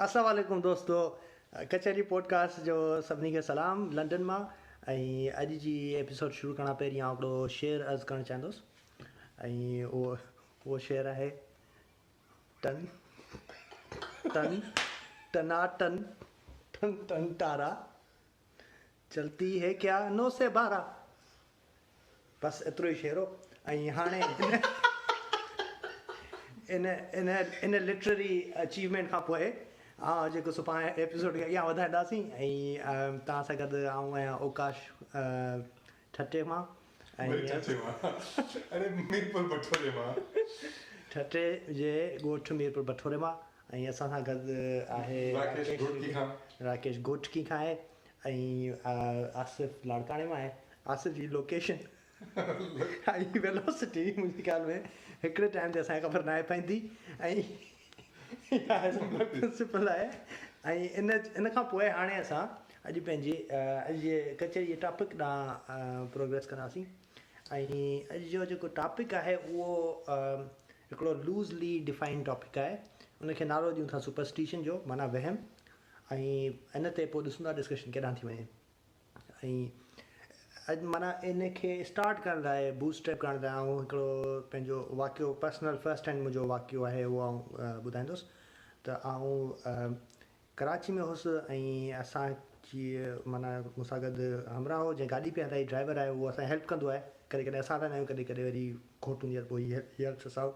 اسلام عليڪم دوستو ڪچهري پوڊڪاسٽ جو سڀني کي سلام لنڊن مان ۽ اڄ جي ايپيسوڊ شروع ڪرڻ کان پهرين آئون هڪڙو شعر عرض ڪرڻ چاهيندس ۽ اهو اهو شعر آهي ٽن ٽن ٽنا ٽن ٽن ٽن تارا چلتي هي ڪيا نو سي بارا بس ايترو ئي شعرو ۽ هاڻي ان ان ان لٽرري اچيومينٽ کان پوء آئون جيڪو سڀان ايپيسوڊ کي اڳيان وڌائينداسين ۽ تان سان گڏ آئون آهيان اوڪاش ٺٽي مان ٺٽي جي ڳوٺ ميرپور بٺوري مان ۽ اسان سان گڏ آهي راڪيش گوٽڪي کان آهي ائين آصف لاڙڪاڻي مان آهي. آصف جي لوڪيشن ۽ ويلوسٽي منهنجي خيال ۾ هڪڙي ٽائيم تي اسان کي خبر ناهي پوندي ۽ اها اسان پرنسپل آهي ۽ ان کان پوء هاڻي اسان اڄ پنهنجي اڄ جي ڪچهري جي ٽاپڪ ڏانهن پروگريس ڪنداسين ۽ اڄ جو جيڪو ٽاپڪ آهي اهو هڪڙو لوزلي ڊفائنڊ ٽاپڪ آهي ان کي نالو ڏيون ٿا سپرسٽيشن جو معنيٰ وهم ۽ ان تي پوء ڏسون ٿا ڊسڪشن ڪيڏانهن ٿي وڃي ۽ معنيٰ ان کي اسٽارٽ ڪرڻ لاء بوٽ اسٽريپ ڪرڻ لاء آئون هڪڙو پنهنجو واقعو پرسنل فرسٽ هينڊ منهنجو واقعو آهي اهو آئون ٻڌائيندس ته آئون ڪراچي ۾ هوس ۽ اسان جي معنيٰ مون سان گڏ همراهه هو جنهن گاڏي پئي هلائي ڊرائيور آهي اهو اسان هيلپ ڪندو آهي ڪڏهن ڪڏهن اسان هلائيندا آهيون ڪڏهن ڪڏهن وري گهوٽ هوندي آهي ته پوء هي هيلپس اس آئوٽ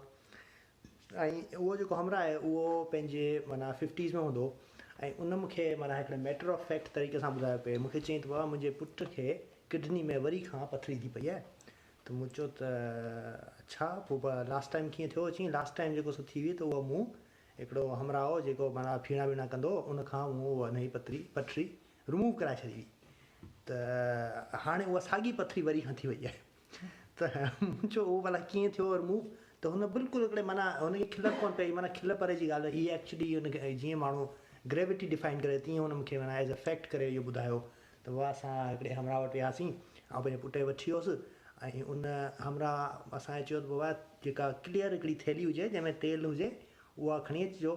۽ اهو جيڪو همراهه آهي اهو پنهنجي معنيٰ ففٽيز ۾ هوندو ۽ ان مون کي معنيٰ هڪڙي ميٽر آف فيڪٽ طريقي سان ٻڌايو پئي مون کي چيائين ته بابا منهنجي پٽ کي ڪڊني ۾ وري کان پٿري ٿي پئي آهي ته مون چيو ته اڇا پوء لاسٽ ٽائيم ڪيئن ٿيو چيائين لاسٽ ٽائيم جيڪو سو ٿي هئي ته اهو مون هڪڙو همراهه هو جيڪو معنيٰ ڦيڻا ويڻا ڪندو هو ان کان مون اها نئين پٿري پٿري رموو ڪرائي ڇڏي هئي ته هاڻي اها ساڳي پٿري وري کان ٿي وئي آهي ته مون چيو اهو ڀلا ڪيئن ٿيو اور موو ته هن بلڪل هڪڙي معنيٰ هن کي کلڻ ڪونه پئي معنيٰ کل پري جي ڳالهه هئي ايڪچلي هن کي جيئن ماڻهو گريوٽي ڊفائن ڪري تيئن هن مون کي معنيٰ ايز اي فيڪٽ ڪري اهو ٻڌايو ته واهه اسان هڪڙي همراهه وٽ وياسين آئون پنهنجي پٽ کي وٺي ويس ۽ ان همراهه اسان کي چيو ته بابا جيڪا ڪليئر هڪڙي ٿيلهي هجي جنهن ۾ تيل هجي اها کڻي اچجو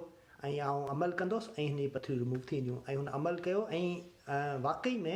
۽ آئون عمل ڪندس ۽ هن جي پٿريون رموو ٿي وينديون ۽ هن عمل ڪيو ۽ واقعي ۾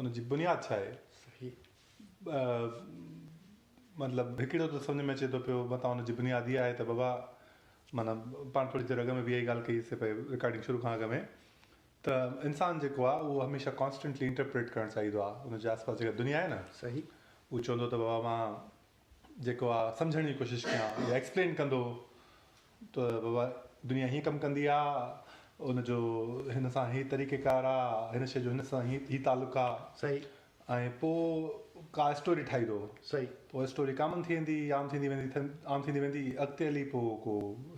ان جي بنياد ڇا آهي؟ صحيح. ٻه مطلب هڪڙو ته سمجهه ۾ اچي ٿو پيو متان ان جي بنياد اها آهي ته بابا معنيٰ پاڻ ٿوري دير اڳ ۾ به اها ئي ڳالهه ڪئي سي پئي رڪارڊنگ شروع کان اڳ ۾ ته انسان جيڪو آهي اهو هميشه ڪانسٽنٽلي انٽرپريٽ ڪرڻ چاهيندو آهي ان جي آس پاس جيڪا دنيا آهي نه صحيح اهو چوندو ته بابا مان جيڪو آء سمجهڻ جي ڪوشش ڪيان يا ايڪسپلين ڪندو ته بابا دنيا هيئن ڪم ڪندي آ ان جو هن سان هي طريقه ڪار آ هن شي جو هن سان هي هي تعلق آ صحيح ۽ پو ڪا اسٽوري ٺاهيدو صحيح پو اسٽوري ڪامن ٿي ويندي عام ٿيندي ويندي عام ٿيندي ويندي اڳتي هلي پو ڪو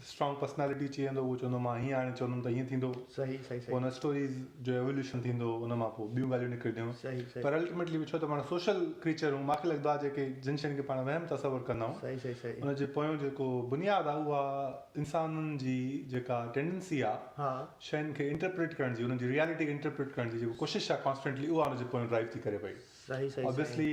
اسٽرانگ پرسنالٽي چئي ويندو اهو چوندو مان هيئن هاڻي چوندم ته هيئن ٿيندو صحيح صحيح صحيح پوء ان اسٽوريز جو ايولوشن ٿيندو ان مان پوء ٻيون ڳالهيون نڪرنديون صحيح صحيح پر الٽيميٽلي ڇو ته پاڻ سوشل ڪريچر آهيون ماکي لڳدو آهي جيڪي جن شين کي پاڻ وهم تصور ڪندا آهيون صحيح صحيح صحيح ان جي پويون جيڪو بنياد آهي اها انسانن جي جيڪا ٽينڊنسي آهي ها شين کي انٽرپريٽ ڪرڻ جي انهن جي ريئلٽي کي انٽرپريٽ ڪرڻ جي جيڪو ڪوشش آهي ڪانسٽنٽلي اها ان جي پويون ڊرائيو ٿي ڪري پئي صحيح صحيح صحيح اوبيسلي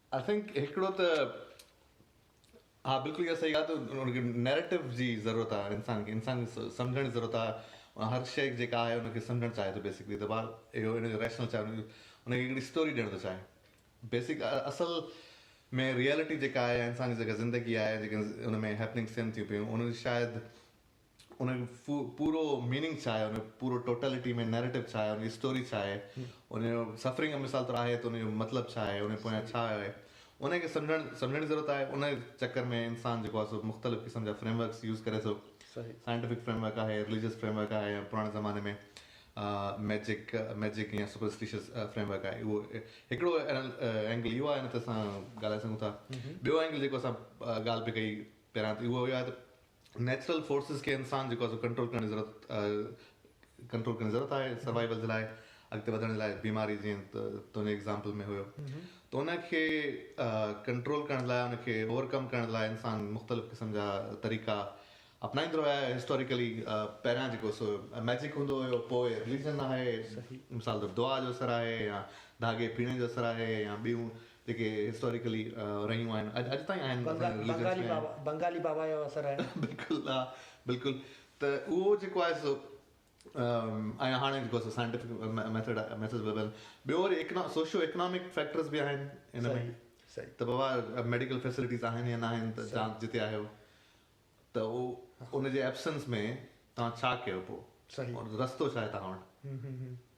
آئي ٿنڪ هڪڙو ته ها بلڪل اها صحيح ڳالهه ته ان کي نيريٽو جي ضرورت آهي انسان کي انسان کي سمجهڻ جي ضرورت آهي هر شيء جيڪا آهي ان کي سمجهڻ چاهي ٿو بيسڪلي ته بار اهو ان جو ريشنل چاهي ان کي هڪڙي اسٽوري ڏيڻ ٿو چاهي بيسڪ اصل ۾ ريئلٽي جيڪا آهي انسان جي جيڪا زندگي آهي جيڪا ان ۾ هيپننگس ٿين ٿيون پيون ان شايد ان جو پورو ميننگ ڇا آهي، ان جو پورو ٽوٽلٽي ۾ نيريٽو ڇا آهي، ان جي اسٽوري ڇا آهي، ان جو سفرنگ جو مثال طور آهي ته ان جو مطلب ڇا آهي، ان جي پويان ڇا آيو آهي، ان کي سمجهڻ سمجهڻ جي ضرورت آهي. ان چڪر ۾ انسان جيڪو آهي سو مختلف قسم جا فريم ورڪس يوز ڪري ٿو. سائنٽيفڪ فريم ورڪ آهي، رليجس فريم ورڪ آهي ۽ پراڻي زماني ۾ ميجڪ ميجڪ يا سپرسٽيشس فريم ورڪ آهي. اهو هڪڙو اينگل اهو آهي ان تي اسان ڳالهائي سگهون ٿا. ٻيو اينگل جيڪو اسان ڳالهه پئي ڪئي پهريان ته اهو آهي ته نيچرل فورسز کي انسان جيڪو آهي سو ڪنٽرول ڪرڻ جي ضرورت ڪنٽرول ڪرڻ جي ضرورت آهي سروائيول جي لاء اڳتي وڌڻ جي لاء بيماري جيئن تنهنجي ايگزامپل ۾ هيو ته ان کي ڪنٽرول ڪرڻ لاء ان کي اوور ڪم ڪرڻ لاء انسان مختلف قسم جا طريقا اپنائيندو رهيو آهي هسٽوريڪلي پهريان جيڪو سو ميجڪ هوندو هيو پوء رليجن آهي مثال طور دعا جو اثر آهي يا ڌاڳي پيڙهڻ جو اثر آهي يا ٻيون جيڪي هسٽاريڪلي رهيون آهن اڄ تائين آهن بنگالي بابا بنگالي بابا جو اثر آهي بلڪل ها بلڪل ته اهو جيڪو آهي سو ۽ هاڻي جيڪو سو سائنٽيفڪ ميٿڊ ميسز وربل ٻيو وري اڪنا سوشو اڪنامڪ فيڪٽرز به آهن ان ۾ صحيح ته بابا ميڊيڪل فيسلٽيز آهن يا نه آهن ته جان جتي آهيو ته ان جي ايبسنس ۾ تان ڇا ڪيو پو صحيح رستو ڇا آهي تان وٽ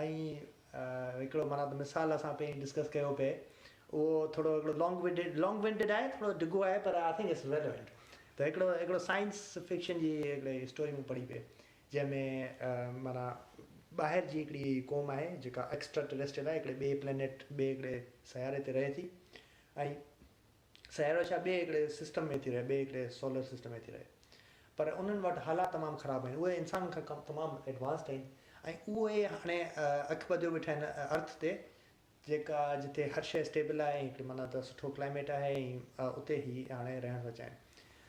۽ هڪڙو معنيٰ ته مثال اسان پهرين ڊسڪس ڪيو پئي اهو ٿورو هڪڙو لانگ ونڊيڊ لانگ ونڊيڊ آهي ٿورو ڊگهو آهي پر آء ٿنڪ اٽس ريليونٽ ته هڪڙو هڪڙو سائنس فڪشن جي هڪڙي اسٽوري مون پڙهي پئي جنهن ۾ معنيٰ ٻاهر جي هڪڙي قوم آهي جيڪا ايڪسٽرا ٽريسٽريل آهي هڪڙي ٻئي پلينيٽ ٻئي هڪڙي سياري تي رهي ٿي ۽ سيارو ڇا ٻئي هڪڙي سسٽم ۾ ٿي رهي، ٻئي هڪڙي سولر سسٽم ۾ ٿي رهي. پر انهن وٽ حالات تمام خراب آهن. اهي انسانن کان ڪم تمام ايڊوانسڊ آهن ۽ اهي هاڻي اک ٻڌيو ويٺا آهن ارٿ تي جيڪا جتي هر شيء اسٽيبل آهي ۽ هڪڙي معنيٰ ته سٺو ڪلائميٽ آهي ۽ اتي هي هاڻي رهڻ ٿا چاهين.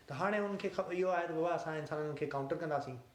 ته هاڻي انهن کي اهو آهي ته بابا اسان انسانن کي ڪائونٽر ڪنداسين.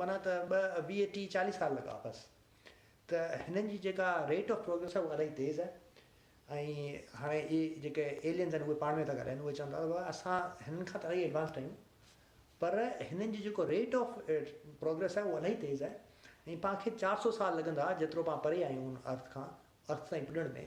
معنيٰ ته ٻه ويهه ٽيهه چاليهه سال لڳا بس ته هنن جي جيڪا ريٽ آف پروگريس آهي اها الائي تيز آهي ۽ هاڻي اهي جيڪي ايلينز آهن اهي پاڻ ۾ ٿا ڳالهائين اهي چون ٿا ته اسان هنن کان ته الائي ايڊوانسڊ آهيون پر هنن جي جيڪو ريٽ آف پروگريس آهي اهو الائي تيز آهي ۽ پان کي چار سؤ سال لڳندا جيترو پان پري آهيون ان ارٿ کان ارٿ تائين پڄڻ ۾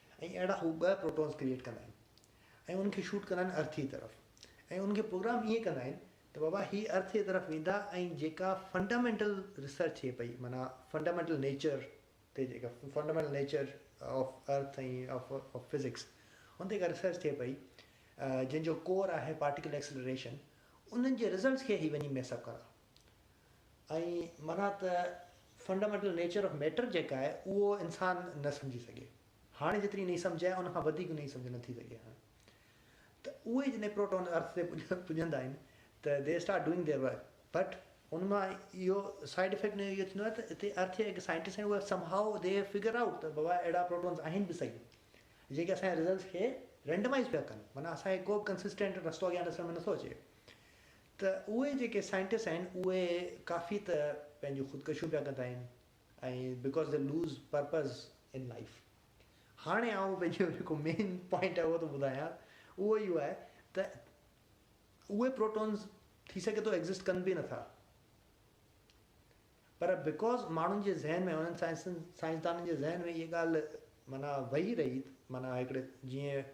۽ اهڙا هو ٻه پروٽونز ڪريئيٽ ڪندا آهن ۽ انهن کي شوٽ ڪندا آهن ارٿيء طرف ۽ انهن کي پروگرام ائين ڪندا آهن ته بابا هي ارٿيء طرف ويندا ۽ جيڪا فنڊامينٽل ريسرچ ٿئي پئي معنيٰ فنڊامينٽل نيچر تي جيڪا fundamental nature of earth ۽ of physics ان تي جيڪا ريسرچ ٿئي پئي جنهن جو ڪور آهي پارٽيڪل ايڪسلريشن انهن جي رزلٽس کي هي وڃي ميس اپ ڪندا ائين معنيٰ ته فنڊامينٽل نيچر آف ميٽر جيڪا آهي اهو انسان نه سمجهي سگهي هاڻي جيتري انهي سمجهه آهي ان کان وڌيڪ انهي سمجهه نه ٿي سگهي هاڻي ته اهي جڏهن پروٽون ارٿ تي پڄندا آهن ته they start doing their work but ان مان اهو سائيڊ افيڪٽ اهو ٿيندو آهي ته هتي ارٿ جا جيڪي سائنٽسٽ آهن اهي سم هائو دي فگر آئوٽ ته بابا اهڙا پروٽونس آهن به صحيح جيڪي اسان جي رزلٽس کي رينڊمائز پيا ڪن معنيٰ اسان کي ڪو به ڪنسسٽنٽ رستو اڳيان ڏسڻ ۾ نٿو اچي ته اهي جيڪي سائنٽسٽ آهن اهي ڪافي ته پنهنجون خودڪشيون پيا ڪندا آهن ۽ because they lose purpose in life هاڻي آئون پنهنجو جيڪو مين پوائنٽ آهي اهو ٿو ٻڌايان اهو اهو آهي ته اهي پروٽونز ٿي سگهي ٿو ايگزسٽ ڪن به نٿا پر بڪاز ماڻهن جي ذهن ۾ انهن سائنسدانن جي ذهن ۾ اهي ڳالهه معنيٰ وهي رهي معنيٰ هڪڙي جيئن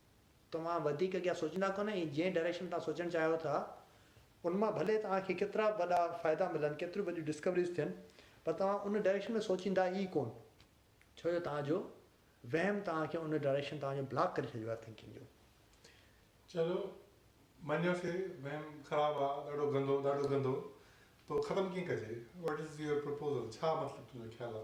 توهان وڌيڪ اڳيان سوچيندا ڪونه ۽ جنهن ڊائريڪشن ۾ توهان سوچڻ چاهيو ٿا ان مان ڀلي توهان کي ڪيترا به وڏا فائدا ملن، ڪيتريون به وڏيون ڊسڪوريز ٿين پر توهان ان ڊائريڪشن ۾ سوچيندا ئي ڪونه ڇو جو توهان جو وهم توهان کي ان ڊائريڪشن توهان جو بلاڪ ڪري ڇڏيو آهي ٿنڪنگ جو. چلو مڃيو سي وهم خراب آ ڏاڍو گندو ڏاڍو گندو تو ختم ڪيئن ڪجي وٽ از يور پروپوزل ڇا مطلب تنهنجو خيال آ.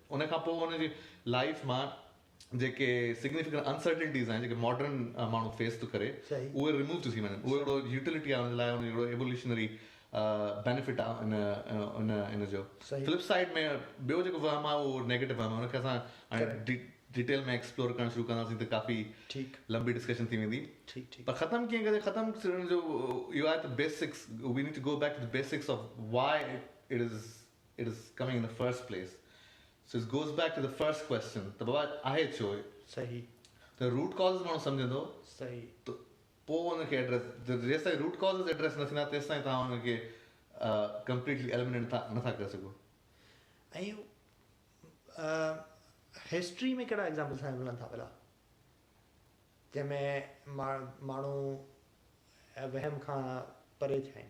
ان کان پوء هن جي لائيف مان جيڪي سگنيفڪنٽ انسرٽنٽيز آهن جيڪي ماڊرن ماڻهو فيس ٿو ڪري اهي ريموو ٿيون ٿي وڃن اهو هڪڙو يوٽيلٽي آهي ان لاء ان هڪڙو ايولوشنري بينيفٽ آهي ان جو فلپ سائيڊ ۾ ٻيو جيڪو وهم آهي اهو نيگيٽو وهم آهي ان کي اسان هاڻي ڊيٽيل ۾ ايڪسپلور ڪرڻ شروع ڪنداسين ته ڪافي لمبي ڊسڪشن ٿي ويندي پر ختم ڪيئن ڪجي ختم ڪرڻ جو اهو آهي ته basics we need to go back to the basics of why it is it is coming in the first place so it's goes back to the first question ته بابا آهي ڇو هي صحيح ته روٽ ڪازز ماڻهو سمجهندو صحيح ته پوء ان کي ايڊريس جيستائين روٽ ڪازز ايڊريس نه ٿيندا تيستائين توهان ان کي ڪمپليٽلي ايلمينيٽ نه ٿا ڪري سگهو ۽ هسٽري ۾ ڪهڙا ايگزامپل اسان کي ملن ٿا ڀلا جنهن ۾ ماڻهو وهم کان پري ٿيا آهن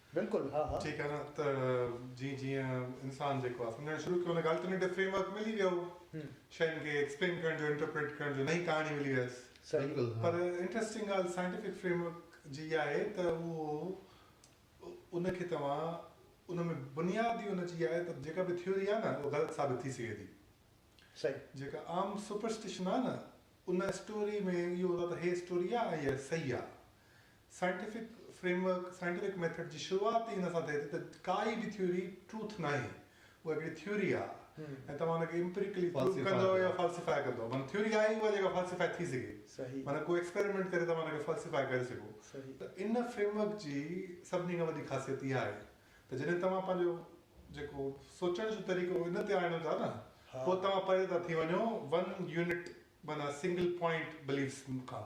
بلڪل ها ها. ٺيڪ آ نه ته جيئن جيئن انسان جيڪو آ سمجهڻ شروع ڪيو ان کي الٽرنيٽو فريم ورڪ ملي ويو شين کي ايڪسپلين ڪرڻ جو انٽرپريٽ ڪرڻ جو نئين ڪهاڻي ملي ويس پر انٽرسٽنگ ڳالهه سائنٽيفڪ فريم ورڪ جي اها آهي ته اهو ان کي توهان ان ۾ بنياد ئي ان جي آهي ته جيڪا به ٿيوري آهي نه اها غلط ثابت ٿي سگهي ٿي صحيح جيڪا عام سپرسٽيشن آهي نه ان اسٽوري ۾ اهو هوندو آهي ته هي اسٽوري آهي ۽ اها صحيح آهي scientific framework, Scientific Method، جي شروعات ئي ان سان ٿئي ٿي ته ڪائي به ٿيوري ٽروٿ ناهي، اها هڪڙي ٿيوري آهي ۽ توهان ان کي امپريڪلي پروف ڪندو يا فالسيفائي ڪندو، معنيٰ ٿيوري آهي ئي اها جيڪا فالسيفائي ٿي سگهي، معنيٰ ڪو ايڪسپيريمينٽ ڪري توهان ان کي فالسيفائي ڪري سگهو ته ان فريم ورڪ جي سڀني کان وڏي خاصيت اها آهي ته جڏهن توهان پنهنجو جيڪو سوچڻ جو طريقو ان تي آڻيو ٿا نه پوء توهان پري ٿا ٿي وڃو ون يونٽ معنيٰ سنگل پوائنٽ بليفس کان.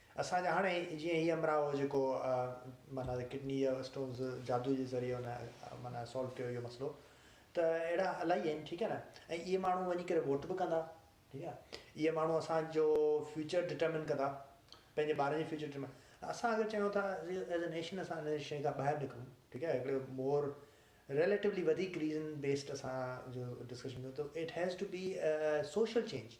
اسان جا هاڻي جيئن هي امراء هو جيڪو معنيٰ ته ڪڊني جا اسٽونز جادو جي ذريعي ان معنيٰ سالو ڪيو اهو مسئلو ته اهڙا الائي آهن ٺيڪ آهي نه ۽ اهي ماڻهو وڃي ڪري ووٽ به ڪندا ٺيڪ آهي اهي ماڻهو اسان جو فيوچر ڊٽرمن ڪندا پنهنجي ٻارن جي فيوچر ڊٽرمن اسان اگر چيون ٿا ايز اي نيشن اسان ان شيء کان ٻاهر نڪرون ٺيڪ آهي هڪڙو مور ريليٽوولي وڌيڪ ريزن بيسڊ اسان جو ڊسڪشن ڪيون ته it has to be social change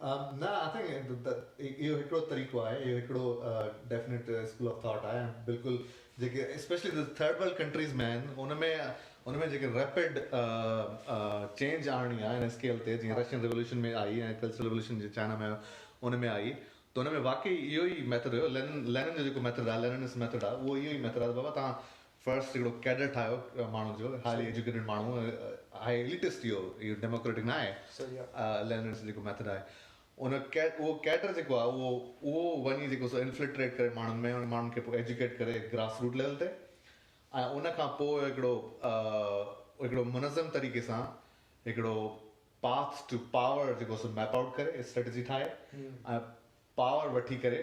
نه آئي ٿنڪ اهو هڪڙو طريقو آهي اهو هڪڙو ڊيفنيٽ اسڪول آف ٿاٽ آهي بلڪل جيڪي اسپيشلي جو ٿرڊ ورلڊ ڪنٽريز ۾ آهن ان ۾ ان ۾ جيڪي ريپڊ چينج آڻڻي آهي ان اسڪيل تي جيئن رشين ريولوشن ۾ آئي ۽ ڪلچرل ريولوشن جي چائنا ۾ ان ۾ آئي ته ان ۾ واقعي اهو ئي ميٿڊ هيو لينن لينن جو جيڪو ميٿڊ آهي ليننس ميٿڊ آهي اهو اهو ئي ميٿڊ آهي بابا تان فرسٽ هڪڙو ڪيڊر ٺاهيو ماڻهو جو هائلي ايجوڪيٽيڊ ماڻهو هاء اليٽس ٿي ويو ڊيموڪريٽڪ نه آهي لينرس جيڪو ميٿڊ آهي ان اهو ڪيڊر جيڪو آهي اهو اهو وڃي جيڪو سو انفلٽريٽ ڪري ماڻهن ۾ ان ماڻهن کي پوء ايجوڪيٽ ڪري گراس روٽ ليول تي ۽ ان کان پوء هڪڙو هڪڙو منظم طريقي سان هڪڙو پاٿ ٽو پاور جيڪو سو ميپ آؤٽ ڪري اسٽريٽجي ٺاهي ۽ پاور وٺي ڪري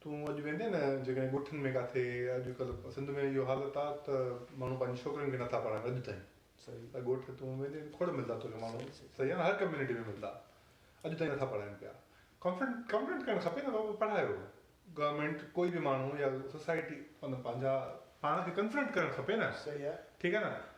تون اڄ ويندين نه جيڪڏهن ڳوٺن ۾ ڪاٿي اڄ ڪلهه سنڌ ۾ اهو حالت آ ته ماڻهو پنهنجين ڇوڪرين کي نٿا پڙهائين اڄ تائين ته ڳوٺ تون ويندين کوڙ ملدا توکي ماڻهو صحيح آ نه هر ڪميونٽي ۾ ملدا اڄ تائين نٿا پڙهائين پيا ڪانفرنس ڪرڻ کپي نه بابا پڙهايو گورنمينٽ ڪوئي به ماڻهو يا سوسائٽي پنهنجا پاڻ کي ڪنفرنٽ ڪرڻ کپي نه ٺيڪ آ نه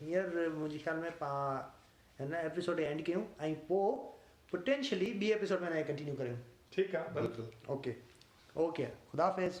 هينئر منهنجي خيال ۾ پان هن ايپيسوڊ کي اينڊ ڪيون ۽ پو پٽينشلي ٻي ايپيسوڊ ۾ هن کي ڪنٽينيو ڪريون. ٺيڪ آ بلڪل. Okay okay خداحافظ.